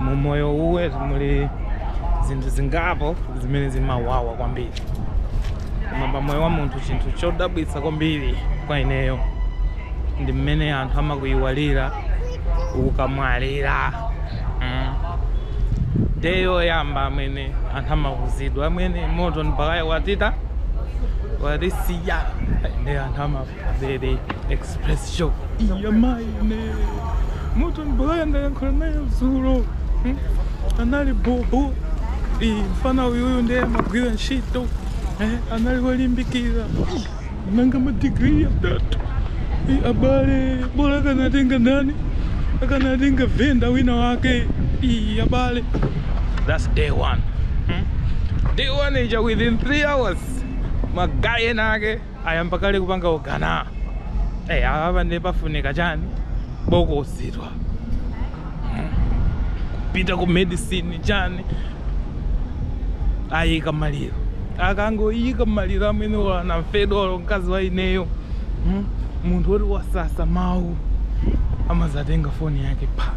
mu moyo uwe muli zinthu zingapo zimene zimawawa kwambiri koma pa moyo wa munthu chinthu chodabwitsa kwambiri kwa ineyo ndi mmene anthu amakuyiwalira ukamwalira mm. day yoyamba amene anthu amauzidwa amwene Morton Baghaya watita watisiya ndi anthu amafa Zedi express shock iya mayi ine Morton Baghaya ndayankhula naye zulo Hmm? anali bobo Ih, mfana uyuyu ndiye amagwira ntchito Eh, anali wolimbikira Ih, nanga madigiri atatu Ih, abale bola akanatenga ndani akanatenga venda wina wake Ih, abale that's day one Hmm? day one ija within three hours magaye enake Ayamba kale kupanga ogana eh, apa ndiye pafunika chani bokosi kupita ku medicine chani ayika maliro akangoyika maliro amwene anamfedwawo mkazi wa ineyo hmm? munthu oti wasasa mawu amazatenga foni yake pa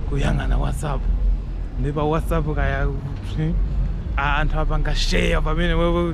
kuyang'ana whatsapp ndi pa whatsapp kaya hmm? anthu apanga share pamene wewe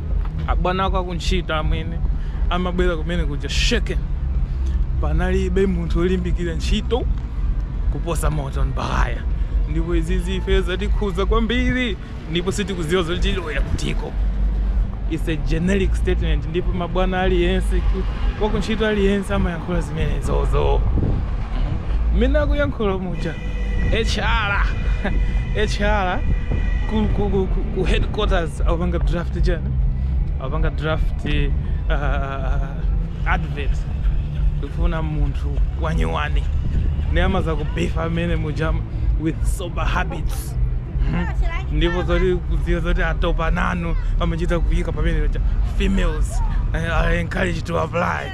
abwana ako akuntchito amwene amabwera kumene kuja shaken panalibe munthu olimbikira ntchito kuposa Morton Baghaya ndipo izizi ife zatikhuza kwambiri ndipo sitikuziwa zoti tilowera kutiko it's a generic statement ndipo mabwana aliyense wakuntchito aliyense amayankhula zimenezozo mmene akuyankhula muja HR HR ku, ku, ku, ku, ku headquarters akupanga draft chani akupanga draft uh, advert kufuna munthu wanyuwani ndiye amazakubifa amwene muja man with sober habits Mhm. ndipo zoti mudziwe zoti atopa nanu amachita kuyika pamene paja females eh, are encouraged to apply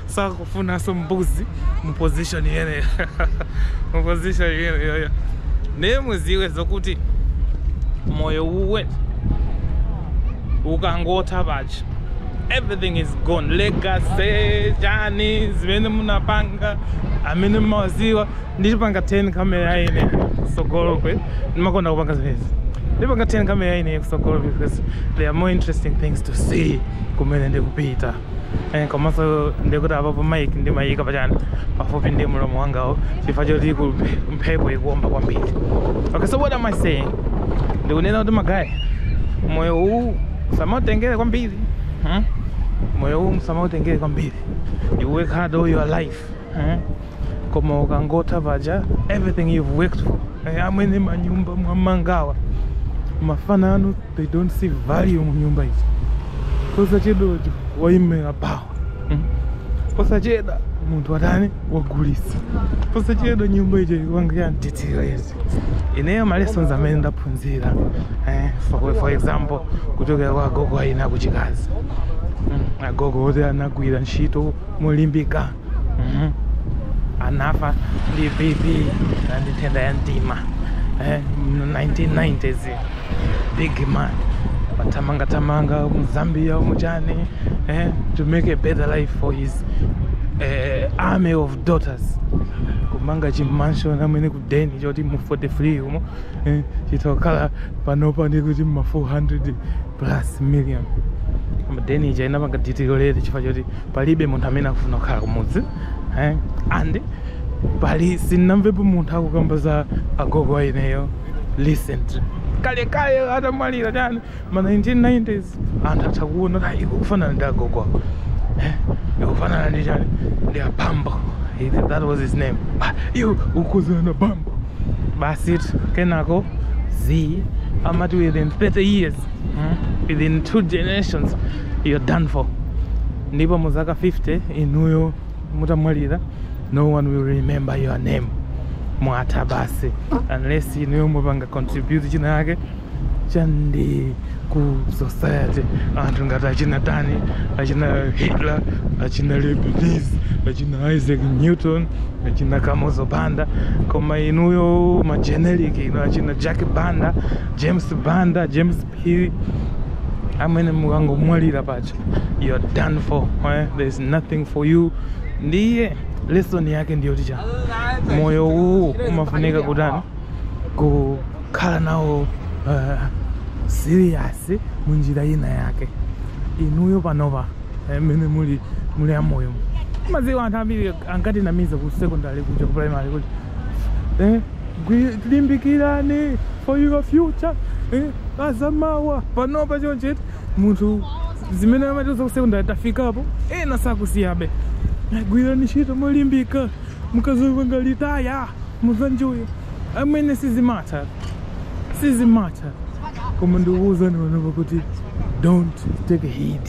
sakufunanso mbuzi mu position imeneyo mu position imeneyoyo ndiye muziwe zokuti moyo uwe ukangotha basi everything is gone legacy chani zimene munapanga amene mmawaziwa ndiipanga turn kamera ya ine kusogolokwe ndimakonda kupanga zimenezi ndipanga turn kamera ya ine kusogolokwe because there are more interesting things to see kumene ndikupita Eh, komanso ndikuti apapo maiki ndimayika pachani pafupi ndi mlomo wangawu chifukwa choti ku mphepo ikuomba kwambiri okay so what am i saying ndikunena kuti magayi moyo uwu musamautengere kwambiri hmm? moyo uwu usamautengere kwambiri you work hard all your life hmm? koma ukangotha paja everything you've worked for eh, amwene manyumba mwamangawa mafana anu they don't see value mu nyumba izi posachedwa wamwera bawa mm. posachedwa munthu watani wagulisa posachedwa nyumba ija ikupanga deteriorate ineyo malessons amene ndaphunzira eh, for, for example kuchokera kwa agogo a ine akuchikazi mm, agogo oti anagwira ntchito molimbika Mhm. anafa ndi bp na ndi nthenda ya mtima eh, mu 1990s big man wathamangathamanga mu zambia muchani eh, to make a better life for his eh, army of daughters kumanga chimansion amwene kudeni choti mu 43 umo eh, chitha kukhala panopa ndi kuti ma 400 plus million koma deni ija inapanga deteriorate chifukwa choti palibe munthu amene akufuna kukhala kumudzi eh? and pali sinnamvepo munthu akukamba za agogo a ineyo recent kalekale atamwalira chani ma 1990s anthu atha kuona kuti ukufanana ndi agogo ako eh? ukufanana ndi chani ndi abambo that was his name ah, iwe ukukozana bambo basi kenako z amati within 30 years hmm? within two generations you're done for ndipo mu zaka 50 inuyo mutamwalira no one will remember your name mwatha basi unless inuyo mwapanga contribute china chake chandi ku society anthu ngati achina ndani achina hitler achina leibniz achina isaac newton achina kamuzu banda koma inuyo mageneric inu achina jack banda james banda james phiri amwene mukangomwalira paja you are done for eh? there is nothing for you ndiye lesson yake ndiyoti chani moyo uwu umafunika kutani kukhala nawo uh, serious munjira ina yake inuyo panopa mmene muli muli amoyo mumaziwa anthu ambiri ankatinamiza ku secondary kuja ku primary kuti eh, gwi- limbikirani for your future eh, azamawa panopa choncheti munthu zimene amatiuza ku secondary tafikapo ena sakusiyabe gwirani ntchito molimbika mukazapanga retire muzanjoya amwene sizimatha sizimatha koma ndikuwuzani panopa kuti don't take a hit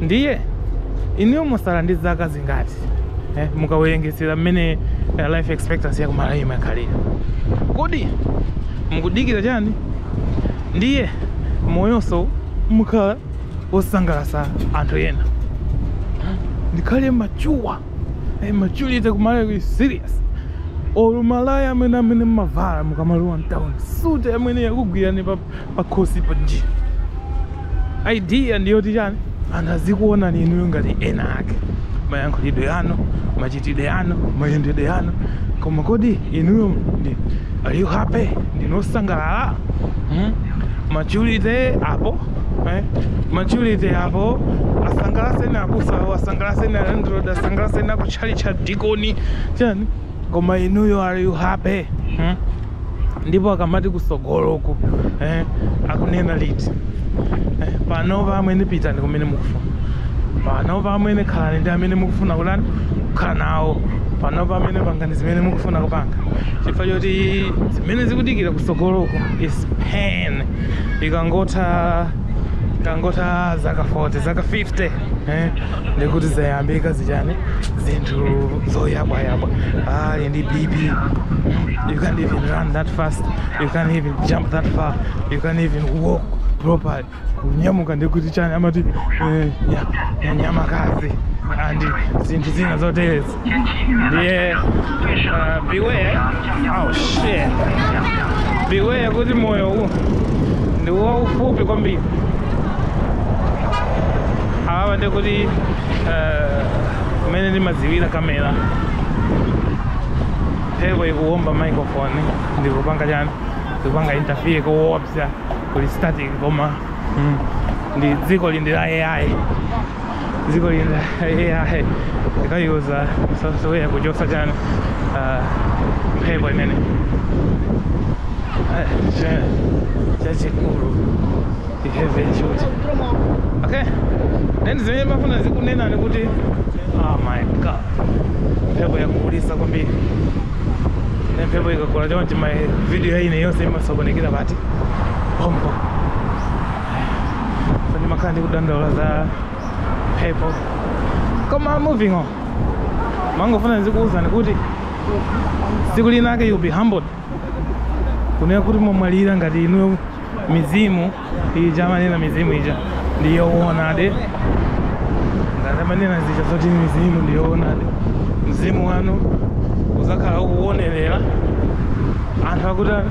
ndiye inuyo musala ndi zaka zingati eh, mukawerengetsera mmene eh, life expectancy yakumalawi imakhalira kodi mukudikira chani ndiye moyonso mukhala osangalasa anthu ena ndikhale machuwa eh, maturity kumalawi serious or malaya amwene amene mmavala mukamalowa mtown suti amwene yakugwirani pa, pakhosi panji idea ndiyoti chani anthu azikuonani inuyo ngati enaake mayankhulidwe anu machitidwe anu mayendedwe anu koma kodi inuyo ndi are you happy ndinosangalala hmm? maturity apo eh? maturity apo asangalaseni abusawo asangalaseni a landlord asangalaseni akutchalitchi adikoni chani koma inuyo are you happy hmm? ndipo akamati kusogoloku eh, akunena liti eh, panopa amwene pitani kumene mukufuna panopa amwene khalani ndi amene mukufuna kutani kukhala nawo panopa amwene pangani zimene mukufuna kupanga chifukwa choti zimene zikudikira kusogoloku is pain ikangotha ikangotha zaka 40 zaka 50 eh, ndikuti zayambika zichani zinthu zoyabwayabwa ali ndi bp mm, you can't even run that fast you can't even jump that far you can't even walk properly kunyamuka ndikuti chani amati eh, nya- nya- nyamakazi and zinthu zina zoterezi ndiye uh, beware oh shit beware kuti moyo uwu ndi waufupi kwambiri apa ndi kuti eh, kumene ndimajambulira kamera mphepo ikuwomba microphone ndikupanga chani ndikupanga interfere koopsa kuli static koma mm, ndi dziko lindi la ai dziko lino la ai ndikayuza software yochosa chani ah, mphepo imene Ah, cha- chachikulu iheve chuti okay then zimene mafuna ndikunena ndi kuti oh my god mphepo yakulisa kwambiri ne mphepo ikakula chonchi ma video anga yonse imasokonekera pati pompo so ndimakhala ndikudandaula za mphepo koma moving on mangofuna ndizikuwuzani kuti tsiku linake you'll be humbled kunena kuti mwamwalira ngati inuyo mizimu ija amanena mizimu ija ndiyoonadi ngati amanena zija zoti mizimu ndiyoonadi mzimu wanu uzakhala ukuwonerera anthu akutani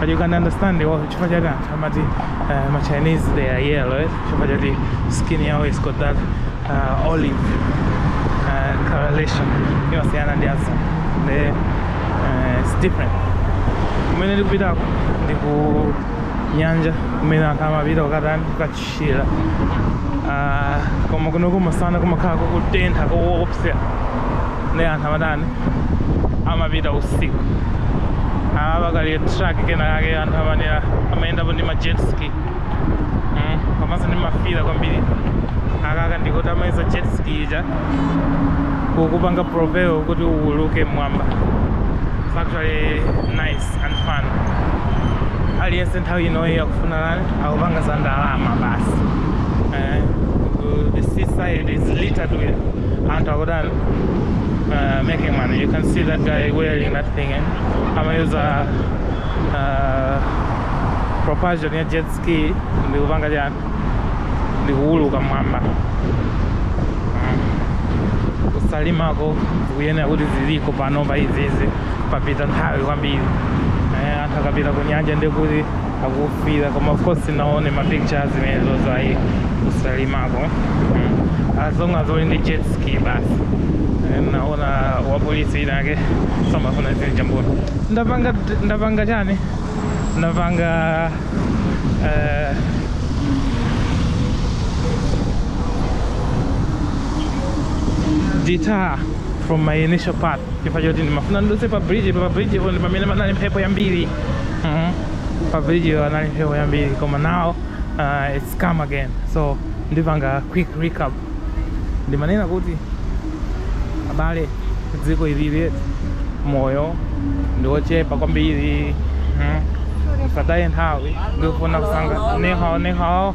but you can understand the word chifukwa chake anthu amati uh, ma chinese they are yellow eh? chifukwa chati skin yawo is got that uh, olive uh, coloration imasiyana ndi azungu uh, it's different kumene tikupitako ndi ku nyanja kumene anthu amapita kukatani chira ah, koma kuno kumasana kumakhala kukutentha koopsa nde anthu amatani amapita usiku awa pakali truck kena kake anthu amanera amayendapo ndi ma jet ski mm, komanso ndi mafira kwambiri akaka ndikuti amayika jet ski ija kukupanga propel kuti uuluke mmwamba It's actually nice and fun aliyense nthawi inoyi akufuna lani akupanga za ndalama basi eh, the seaside is littered with anthu akutani uh, making money you can see that guy wearing that thing eh? amayuza uh, propulsion ya jet ski ndikupanga chani ndikuuluka mmwamba kusalimako kuyenera kuti ziliko panopa izizi papita nthawi kwambiri eh, anthu akapita ku nyanja ndikuti akufira koma of course naone ma pictures zimenezo zayi kusalimako mm. as long as uli ndi jet ski basi Eh, naona wapolisi winawake samafuna zinthu chambuno ndapanga ndapanga chani ndapanga eh, detour from my initial path chifukwa choti ndimafuna ndidutse pa bridge pa bridge po ndi pamene panali mphepo yambiri Mhm. pa bridge-po panali mphepo yambiri koma now uh, it's calm again so ndipanga quick recap ndimanena kuti abale dziko ilili moyo ndiwochepa kwambiri Mhm. musataye nthawi ndikufuna kusanga niho niho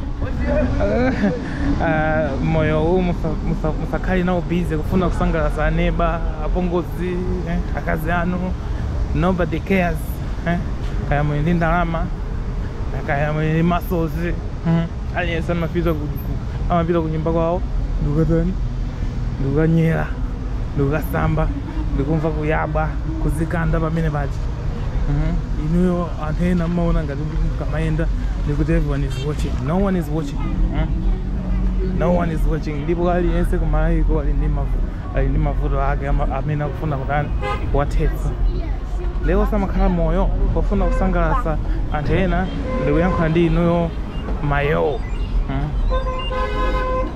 Eh, moyo uwu musa- musa- musakhale nawo busy kufuna kusangalatsa aneba apongozi akazi eh, akazi anu nobody cares eh, kaya muli ndi ndalama kaya muli ndi muscles mm, aliyense amapita ku- ku- amapita ku nyumba kwawo ndikukatani ndikukanyera ndikukasamba ndikumva kuyabwa kuzikanda pamene paja Mhm. inuyo anthu ena mmaona ngati kuti mukamayenda ndikuti everyone is watching no one is watching Mhm. no one is watching ndipo aliyense kumayiko ali ndi mavuto ali ndi mavuto ake ama- amene akufuna kutani kuwathetsa lero samakhala moyo ofuna kusangalatsa anthu ena ndikuyankhula ndi inuyo moyo mm.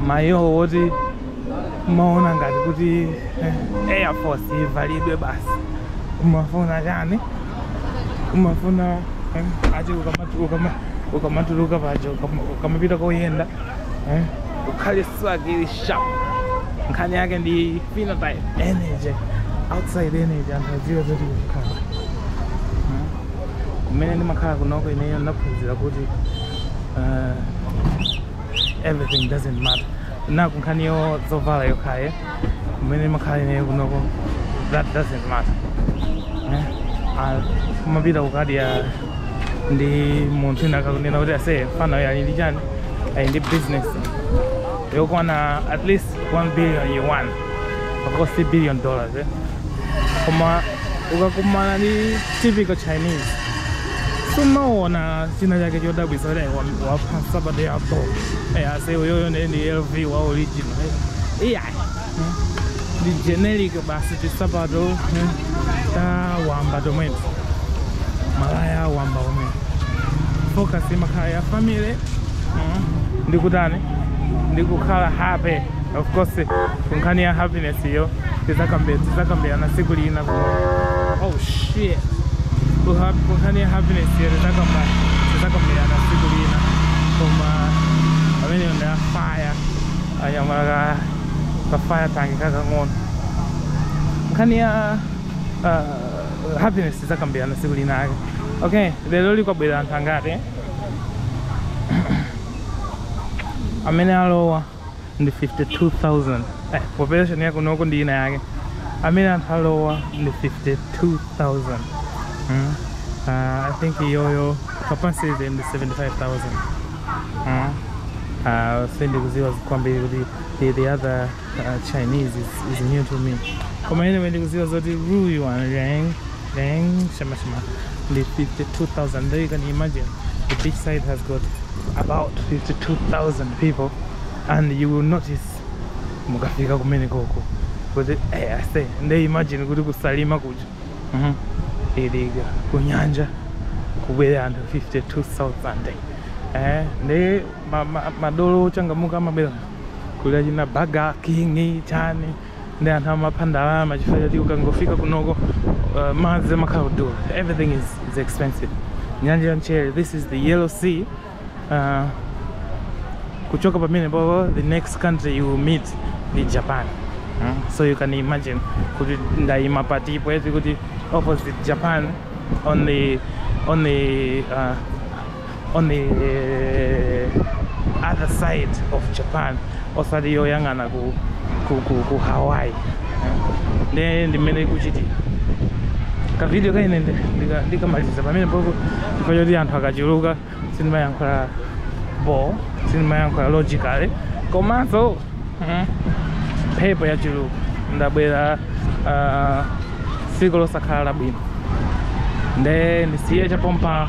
moyo woti umaona ngati kuti eh, air force ivalidwe basi umafuna chani umafuna eh, ati ukamatu- ukama- ukamatuluka paja ukama- ukamapita koyenda eh, ukhale swag ili sharp nkhani yake ndi phenotype energy outside energy anthu adziwe zoti kukhala kumene ndimakhala kunoko ineyo ndinaphunzira kuti uh, everything doesn't matter na ku nkhani ya zovala yokhaye kumene ndimakhala ineyo kunoko that doesn't matter Eh, ah, kumapita kukadya ndi munthu wina akakunena kuti ase fanayo ali ndi chani ali ndi business yokwana at least 1 billion yuan of course 3 billion dollars eh? koma ukakumana ndi typical chinese sumaona china chake chodabwisa kuti wapha nsapato yapo Eh, ase uyoyo ndi ndi lv wa original eh. iya ndi generic basi tisapato eh, tawamba tomweto malaya awamba omwe focus imakhala ya family mm, ndi kutani ndi kukhala happy of course kunkhani ya happiness iyo tizakambe- tizakambirana siku lina ku oh shit Kuha- kunkhani ya happiness iyo tizakamba tizakambirana siku lina koma pamene ndi a fire anyamata ka fire tank kakang'ono nkhani ya uh, happiness tidzakambirana tsiku lina ake okay lero likubwera anthu angati eh? amene alowa ndi 52000 eh, population yake kunoko ndi ina yake amene anthu alowa ndi 52000 mm. uh, i think iyoyo capacity ndi 75000 Huh? Uh, sipendi kuziwa kwambiri kuti the, the other uh, Chinese is, is new to me. Koma ine wendi kuziwa zoti ruyu one rang rang shama shama ndi 52,000. There you can imagine the beach side has got about 52,000 people and you will notice mukafika kumene koko kuti eh, ase nde imagine kuti kusalima kuja Mhm. ili ka kunyanja kubwera anthu 52000 eh, ndi ma- ma- madolo ochangamuka amabwera kuli achina burger king chani nde anthu amapha ndalama chifukwa choti ukangofika kunoko uh, madzi amakhala kudula everything is, is expensive nyanja ya mchere this is the yellow sea uh, kuchoka pamene po the next country you meet ndi japan mm? so you can imagine kuti ndayima patipo eti kuti opposite japan on the on the uh, on the uh, other side of japan osati yoyang'ana ku, ku, ku, ku hawaii nde ndimene ikuchitira kavidiyo kaye ndikamaliziza pamene popo chifukwa choti anthu akachuluka sindimayankhula bo sindimayankhula logically komanso mm, mphepo yachuluka ndabwera ah, tsiku losakhala labwino nde ndisiye chapompa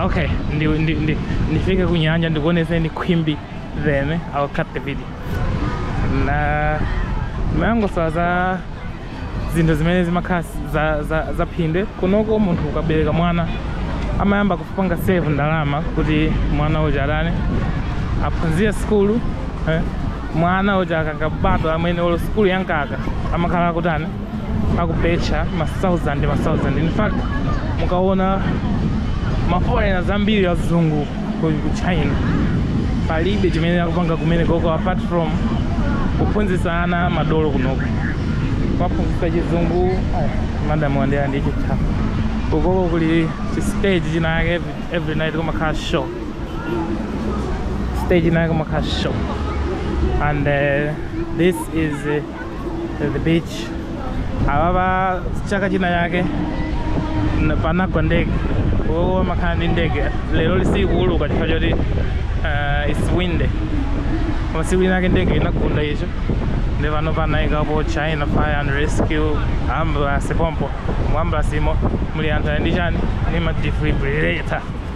okay ndi, ndi, ndi, ndifike kunyanja ndikuoneseni khwimbi Then I'll cut the video. Ndimangouzidwa za zinthu zimene zimakhala za, za, za phindu kunoko munthu ukabereka mwana amayamba kupanga save ndalama kuti mwana uja atani aphunzire sukulu eh? mwana uja akangobadwa amene olo sukulu ya mkaka amakhala akutani akubetcha ma 1000 ma 1000 in fact mukaona ma foreigners ambiri azungu ku ku china palibe chimene akupanga kumene koko apart from kuphunzitsa ana madolo kunoko kuwaphunzitsa chizungu ah, madam wandera ndi cheetah kukoko kuli chi stage chinayake every, every night kumakhala show stage inayake kumakhala show and uh, this is uh, the beach apapa chaka china yake na- panagwa ndege uwowo umakhala ndi ndege lero ili sikuuluka chifukwa choti uh, its windy koma siku lina yake ndege inagunda icho ndi pano panayikapo china fire and rescue ambulance pompo mu ambulance imo muli anthu ali ndi chani ndi ma defibrillator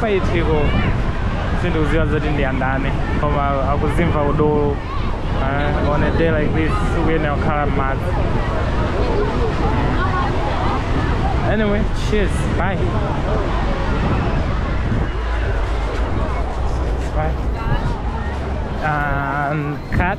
Paiphiko sindikuziwa zoti ndi andani koma akuzimva udolo uh, on a day like this sukuyenera kukhala m'madzi anyway cheers bye bye and cut